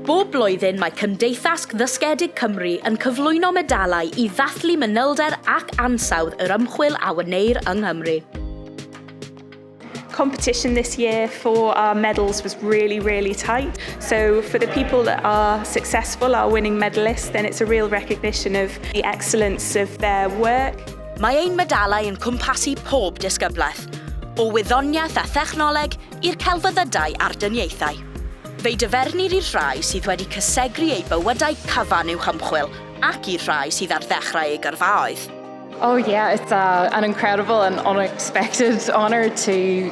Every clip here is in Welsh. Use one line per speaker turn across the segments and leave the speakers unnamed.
Bob blwyddyn mae Cymdeithas Ddysgedig Cymru yn cyflwyno medalau i ddathlu manylder ac ansawdd yr ymchwil a wneir yng Nghymru.
competition this year for our medals was really, really tight. So for the people that are successful, our winning medalists, then it's a real recognition of the excellence of their work. Mae ein medalau
yn cwmpasu pob disgyblaeth, o wyddoniaeth a thechnoleg i'r celfyddydau a'r dyniaethau. Fe'i dyfernir i'r rhai sydd wedi cysegru eu bywydau cyfan uwch ymchwil ac i'r rhai sydd ar ddechrau eu gyrfaoedd. Oh yeah,
it's uh, an incredible and unexpected honour to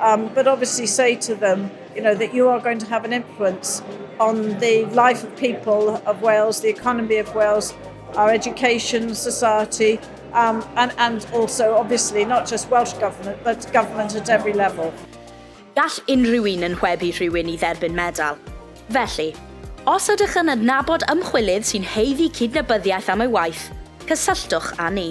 Um, but obviously say to them, you know, that you are going to have an influence on the life of people of Wales, the economy of Wales, our education, society, um, and, and also, obviously, not just Welsh Government, but government at every level. Gall
unrhyw un yn hwebu rhywun i dderbyn medal. Felly, os ydych yn adnabod ymchwilydd sy'n heiddi cydnabyddiaeth am ei waith, cysylltwch â ni.